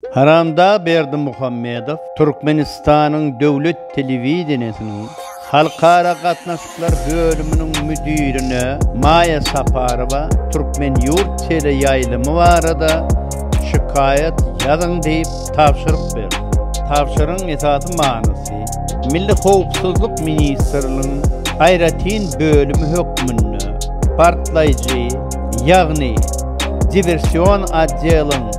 Haramdag Berdimuhamedow Türkmenistanyň döwlet telewideniýesiniň Halkara gatnaşyklar bölüminiň müdirine Maýa Saparowa Türkmenyurt teleýaýlymy barada şikaýat ýazyň diýip tabşyryk berdi. Tabşyrygyň esasy manysy, Milli howpsuzlyk ministrligiň aýratyn bölümi hökmünde partlaýjy, ýagny diwersion otdeliň,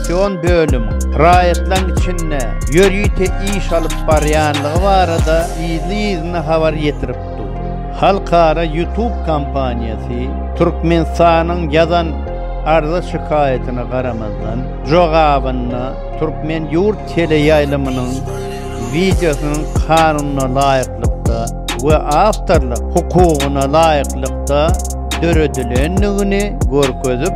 Innowasion bölümiň raýatlaryň içinde ýörite iş alyp barýanlygy barada yzly-yzyna habar ýetirip dur. Halkara YouTube kompaniýasy Türkmenistanyň ýazan arza-şikaýatyna garamazdan, jogabynda Türkmen ýurt teleýaýlymynyň wideosynyň kanuna laýyklykda we awtorlyk hukugyna laýyklykda döredilendigini görkezip,